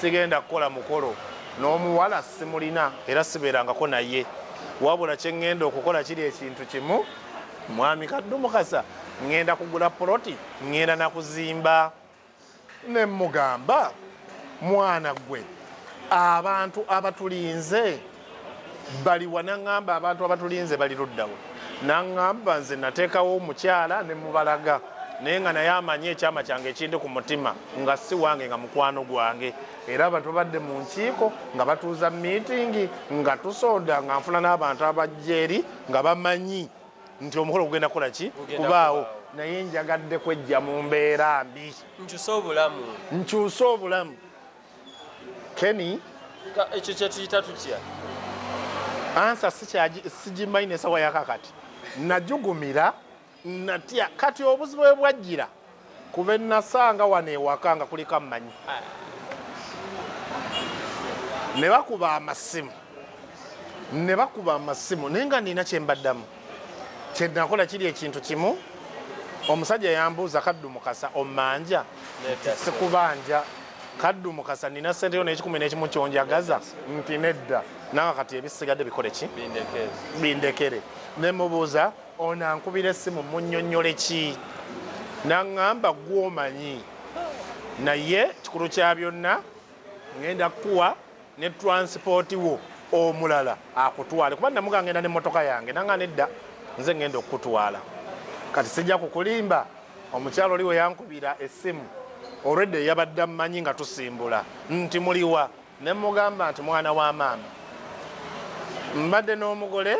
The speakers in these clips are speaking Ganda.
sigenda kukola mukolo n'omuwala simulina era sibeerangako naye wabula kyeŋŋenda okukola kiri ekintu kimu mwami kaddu mukasa ŋŋenda kugula poloti ŋŋenda nakuzimba Ne mmugamba, Mwana ggwe, abantu abatulinze bali wa? N'aŋŋamba, Abantu abatulinze bali ludda wa? N'aŋŋamba, Nze nateekawo omukyala ne mmubalaga, naye nga naye amanyi ekyama kyange ekindi ku mutima, nga si wange, nga mukwano gwange. Era ba, tubadde mu nkiiko, nga batuuza miitingi, nga tusonda, nga nfuna n'abantu abajja eri, nga bamanyi. nti omukolo gugenda kukola ki kubaawo naye njagadde kwejja mu mbeera mbi nkyuse obulamu nkyuse obulamu keni ekyo kyetuyita tutya ansa sigimanyi nesawa yakakati najugumira natya kati obuzibu bwe bwajjira Ku be nnasanga wano ewaka nga kuliko ammanyi ne bakuba amasimu ne bakuba amasimu naye nga nina kye mbaddamu kye nakola kiri ekintu kimu omusajja yambuuza kaddu mukasa omanja nti sikubanja kaddu mukasa nina sente yo n'ekikumi n'ekimu kyonjagaza nti nedda nanga kati ebisigadde bikole ki bindekere ne mubuuza Ono ankubira essimu mmunnyonnyole ki n'aŋŋamba ggwe omanyi naye kikulu kya byonna ng'enda kukuwa ne transport wo omulala akutwale kuba namuga ngenda nemmotoka yange nanga nedda nze ngenda okukutwala kati sijja kukulimba omukyalo oliwo yankubira essimu olwedda eyabadde ammanyi nga tusimbula nti muliwa ne mmugamba nti mwana wa maama mbadde n'omugole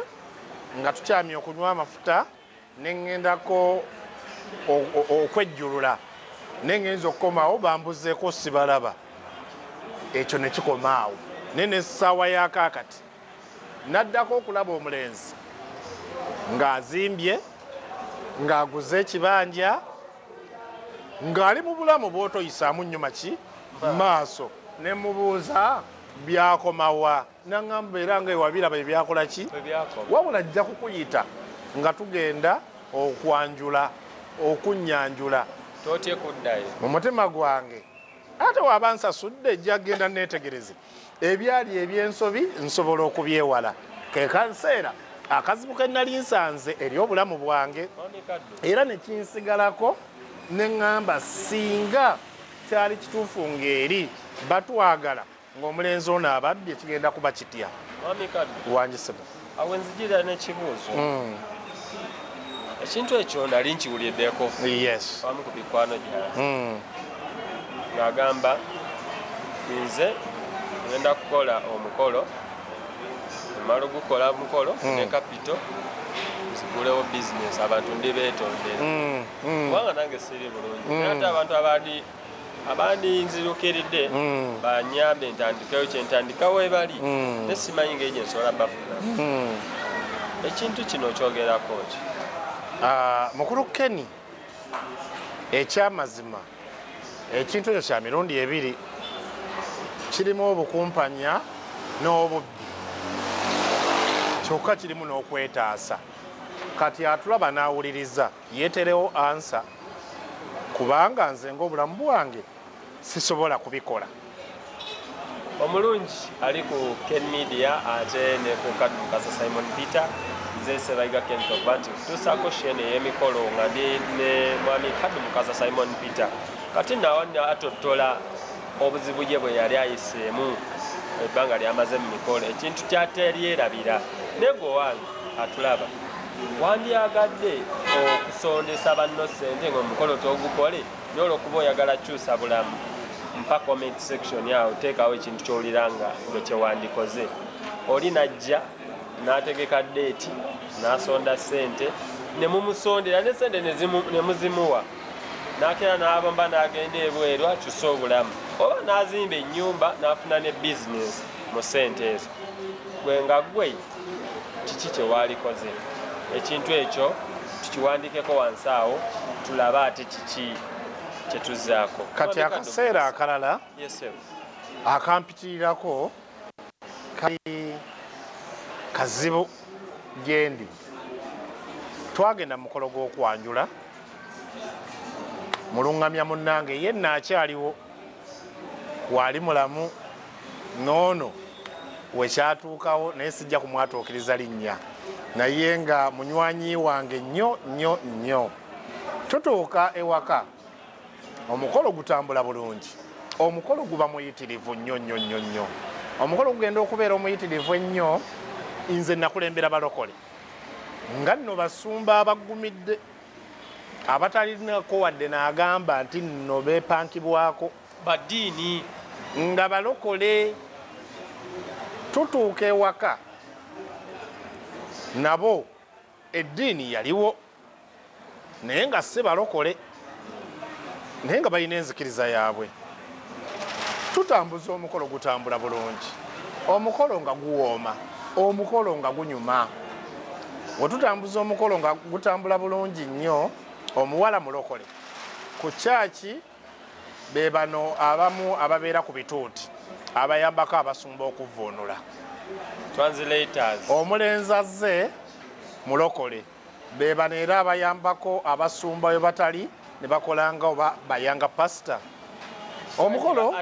nga tukyamye okunywa amafuta ne ŋŋendako okwejjulula naye ŋŋenza okukomawo bambuzeeko sibalaba ekyo ne kikoma awo naye n'essaawa yakaakati naddako okulaba omulenzi ng'azimbye ng'aguze ekibanja ng'ali mu bulamu bw'otoyisaamu nnyo maki maaso ne mubuuza byakomawa naŋamba era nga ewabiraba ebyakola ki wabula ajja kukuyita nga tugenda okwanjula okunyanjula totye kuddayo mu mutima gwange ate waba nsasudde jagenda netegereze ebyali ebyensobi nsobola okubyewala kekanseera akazibu ke nali nsanze eri obulamu bwange era nekinsigalako neŋŋamba singa kyali kituufu ng'eri batwagala ng'omulenzi ono abadde kigenda kuba kitya wangisibwa awo enzijira n'ekibuuzo hmm. ekintu ekyo nali nkiwuliddeko amu ku bikwano gyala hmm. ng'agamba nze ngenda kukola omukolo emala ogukola omukolo hmm. ne kapito nzigulewo bizinesi abantu ndi beetondera kubanga nange siri bulungi ate abantu abali abandi nzirukiridde mm. banyambe ntandikeyo kyentandika webali mm. nesimanyi ngeri gyensobola bafuna mm. ekintu kino kyogerako ki ah, mukulu keni ekyamazima ekintu ekyo kya mirundi ebiri kirimu obukumpanya n'obubbi kyokka kirimu n'okwetaasa kati atulaba n'awuliriza Yeterewo answer kubanga nze ng'obulamu bwange sisobola kubikola. Omulungi ali ku Ken Media ate ne ku Kaddu Kasa Simon Peter nze Ssebayiga Ken Tobati tusaako shene ey'emikolo nga ndi ne mwami Kaddu Mukasa Simon Peter kati nawa atottola obuzibu ye bwe yali ayiseemu ebbanga lyamaze mu mikolo ekintu kyateryerabira naye gwe wange atulaba Wandyagadde okusondesa banno ssente ng'omukolo togukole naye olwokuba oyagala kukyusa bulamu mpa comment section awo teekawo ekintu kyowulira nga gwe kyewandikoze oli najja n'ategeka deeti n'asonda ssente ne mumusondera ne ssente ne muzimuwa n'akeera n'abamba n'agenda ebweru akyuse obulamu oba n'azimba ennyumba n'afuna ne bizinesi mu ssente ezo gwe nga gwe kiki kyewaalikoze ekintu ekyo tukiwandiikeko wansi awo tulabe ate kiki kyetuzaako kati akaseera akalala akampitirirako kali kazibu gyendi twagenda mukolo gw'okwanjula mulungamya munnange ye naakyaliwo waali mulamu noono wekyatuukawo naye sijja kumwatuukiriza linnya naye nga munywanyi wange nnyo nnyo nnyo tutuuka ewaka omukolo gutambula bulungi omukolo guba muyitirivu nnyo nnyo nnyo nnyo omukolo gugenda okubeera omuyitirivu ennyo nze nakulembera balokole nga nno basumba abagumidde abatalinako wadde n'agamba nti nno beepankibwako baddiini nga balokole tutuuka ewaka nabo eddiini yaliwo naye nga si balokole naye nga balina enzikiriza yaabwe tutambuza omukolo gutambula bulungi omukolo nga guwooma omukolo nga gunyuma wetutambuza omukolo nga gutambula bulungi nnyo omuwala mulokole ku kyaki be bano abamu ababeera ku bituuti abayambako abasumba okuvvuunula omulenzi azze mulokole Be bano era abayambako abasumba we batali ne bakola nga oba bayanga pasita omukolo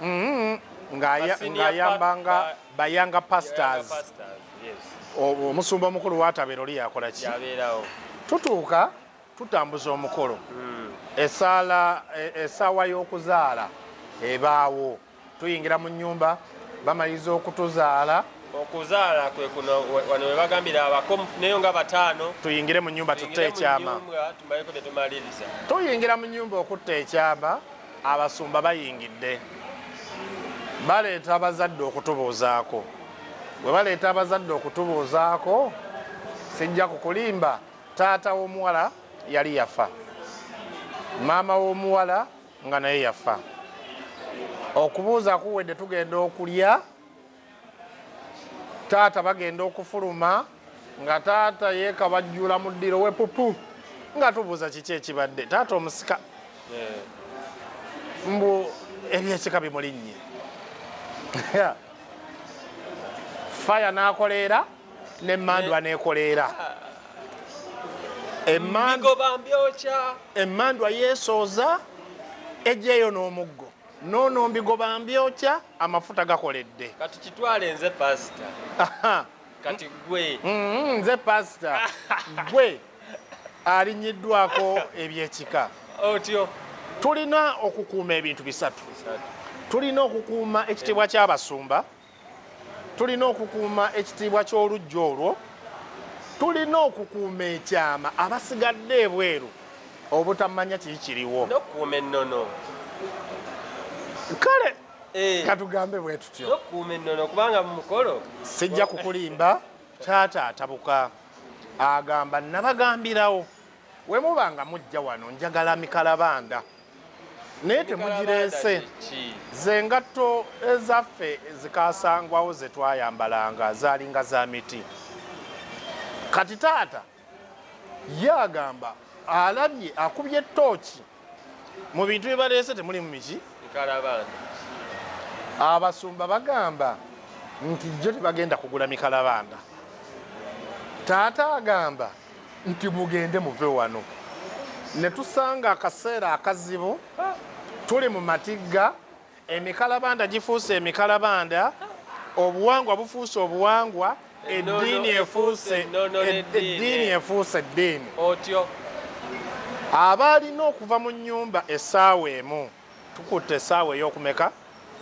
mm-hmm. ng'ayamba nga bayanga pastors omusumba omukulu watabeera oli yakola ki tutuuka tutambuza omukolo hmm. esaala e, esaawa y'okuzaala ebaawo tuyingira mu nnyumba bamaliza okutuzaala okuzaala kwe kuno wano we bagambira abako neyo nga bataano tuyingire mu nyumba tutte ekyama tumaleko tetumaliriza tuyingira mu nyumba okutta ekyama abasumba bayingidde baleeta abazadde okutubuuzaako bwe baleeta abazadde okutubuuzaako sijja kukulimba taata w'omuwala yali yafa maama w'omuwala nga naye yafa okubuuza kuwedde tugenda okulya taata bagenda okufuluma nga taata yekabajjula mu ddiro we pupu nga tubuuza kiki ekibadde taata omusika mbu ebyekika bimulinnye faya nakoleera ne mandwa nekoleera emandwa yesooza ejeeyo n'omuggo noono mbigoba mbyokya amafuta gakoledde kati kitwale nze pasita kati gwe mm-hmm, nze pasita gwe alinyiddwako ebyekika otyo tulina okukuuma ebintu bisatu tulina okukuuma ekitiibwa ky'abasumba Tulina okukuuma ekitiibwa ky'oluggya olwo. Tulina okukuuma ekyama abasigadde ebweru obutamanya kiki kiriwo. N'okukuuma ennono. Kale eh. katugambe bwe tutyo. N'okukuuma ennono kubanga mu mukolo. Sijja kukulimba taata atabuka agamba nabagambirawo we muba nga mujja wano njagala mikalabanda. naye temugireese ze ngatto ezaffe zikasangwawo ze twayambalanga zaalinga za miti kati taata ye agamba alabye akubye tooki mu bintu bye baleese temuli mu miki abasumba bagamba nti jjo tebagenda kugula mikalabanda taata agamba nti mugende muve wano ne tusanga akaseera akazibu tuli mu matigga emikalabanda gifuuse emikalabanda obuwangwa bufuuse obuwangwa eddiini efuuse eddiini efuuse eddiini otyo abaalina okuva mu nnyumba essaawa emu tukutte essaawa ey'okumeka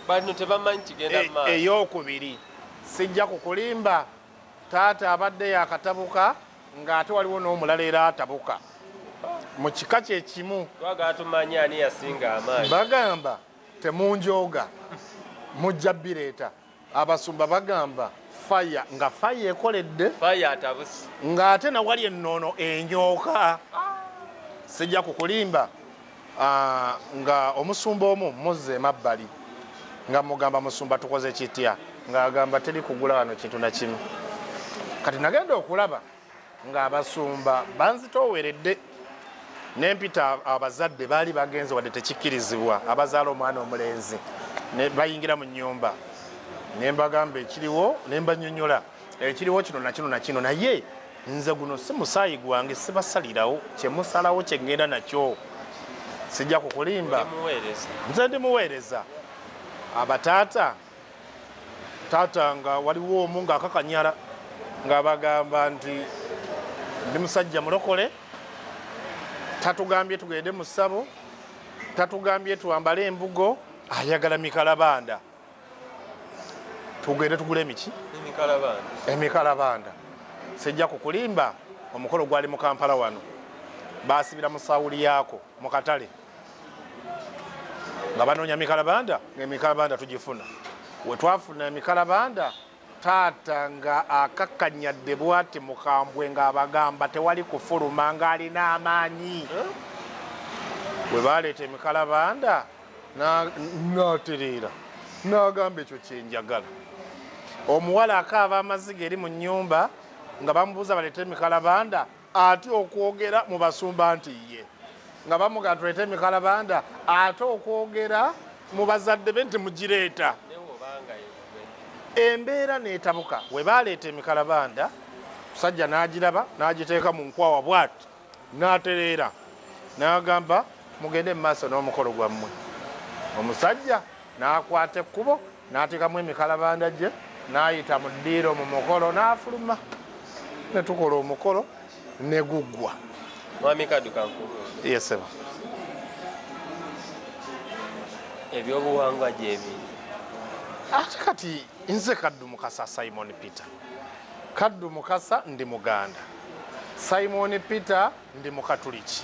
bano tebamanyi kigenda e, maaso ey'okubiri sijja kukulimba Taata abadde yakatabuka nga ate waliwo n'omulala era atabuka mu kika kye kimu. Twagala tumanye ani yasinga amaanyi. Bagamba temunjooga mujja bireeta. Abasumba bagamba fire nga fire ekoledde fire atabuse nga ate nawali ennono enyooka. Sijja kukulimba Ah, nga omusumba omu muzza emabbali nga mugamba musumba tukoze kitya ng'agamba teri kugula wano kintu nakimu kati nagenda okulaba ng'abasumba banzitooweredde nempita abazadde baali bagenze wadde tekikkirizibwa abazaala omwana omulenzi bayingira mu nyumba nembagamba ekiriwo nembanyonyola ekiriwo kino nakino nakino naye Nze guno si musaayi gwange, sibasalirawo. Kye musalawo kye ŋŋenda nakyo. Sijja kukulimba. Nze ndi muweereza. Abataata, taata nga waliwo omu ng'akakanyala ng'abagamba nti ndi musajja mulokole, tatugambye tugende mu ssabo, tatugambye twambale embugo, ayagala mikalabanda. tugende tugule emiki emikalabanda sijja kukulimba omukolo gwali mu kampala wano basibira mu sawuli yaako mu katale nga banoonya mikalabanda ngaemikalabanda tugifuna wetwafuna emikalabanda taata nga akakkanyadde bwati mukambwe ng'abagamba tewali kufuluma ng'alina amaanyi bwe baleeta emikalabanda n'atereera n'agamba ekyo kyenjagala omuwala akaaba amaziga eri mu nnyumba nga bamubuuza baleeta emikalabanda Ate okwogera mu basumba nti ye nga bamuga tuleete emikalabanda ate okwogera mu bazadde be nti mugireeta embeera n'etabuka we baaleeta emikalabanda musajja n'agiraba n'agiteeka mu nkwawa bwati n'atereera n'agamba mugende mu maaso n'omukolo gwammwe omusajja n'akwata ekkubo n'ateekamu emikalabanda gye n'ayita mu ddiiro mu mukolo n'afuluma ne tukola omukolo ne guggwa mwami kadukanku yesebo ebyobuwangwa gyebi ate kati nze kaddu mukasa simon peter kaddu mukasa ndi muganda simon peter Ndi Mukatuliki.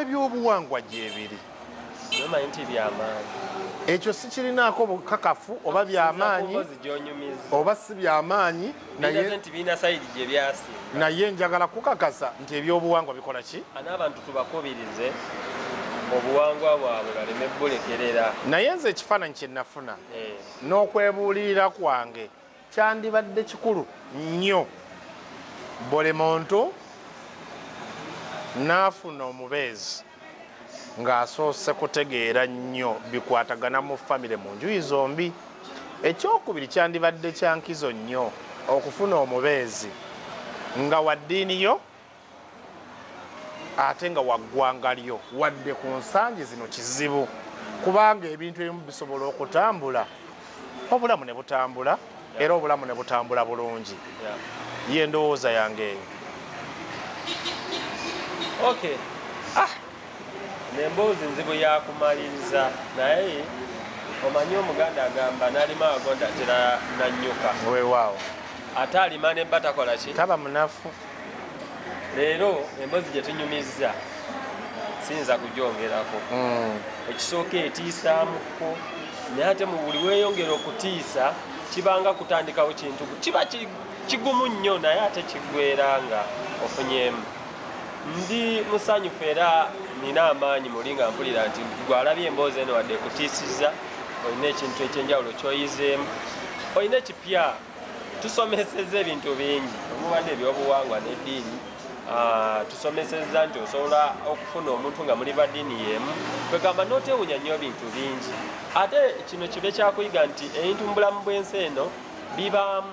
Ebyobuwangwa gyebiri. Nomanyi nti byamaanyi. Ekyo sikirinaako bukakafu oba byamaanyi oba si byamaanyi naye njagala kukakasa nti ebyobuwangwa bikola ki? N'abantu tubakubirize obuwangwa bwabwe baleme bulekerera. Naye nze ekifaananyi kye nafuna eh. n'okwebuulirira kwange Kyandibadde kikulu nnyo buli muntu n'afuna omubeezi ng'asoose kutegeera nnyo bikwatagana mu famire mu njuyi zombi. Ekyokubiri, kyandibadde kya nkizo nnyo okufuna omubeezi nga wa ddiini yo ate nga waggwanga lyo wadde ku nsangi zino kizibu kubanga ebintu ebimu bisobola okutambula obulamu ne butambula era obulamu ne butambula bulungi ye ndowooza yange eyo okay ah nemboozi nzibu yakumaliriza naye omanyi omuganda agamba nalima agonda tera nanyuka wewaawo ate alima nemba takola ki taba munafu leero embozi gye tunyumizza siyinza kugyongerako hmm. ekisooka etiisaamuko naye ate mu buli weeyongera okutiisa kibanga kutandikawo kintu kiba kigumu nnyo naye ate kiggwera nga ofunyemu ndi musanyufu era nina amaanyi muli nga mpulira nti gwalabye emboozi eno wadde ekutiisizza olina ekintu ekyenjawulo kyoyizeemu olina ekipya tusomeseza ebintu bingi omuba nebyobuwangwa nediini ah, tusomeseza nti osobola okufuna omuntu nga muli badiini yemu kwegamba notewunya nyo bintu bingi ate kino kibe kyakuyiga nti ebintu mubulamu bwensi eno bibaamu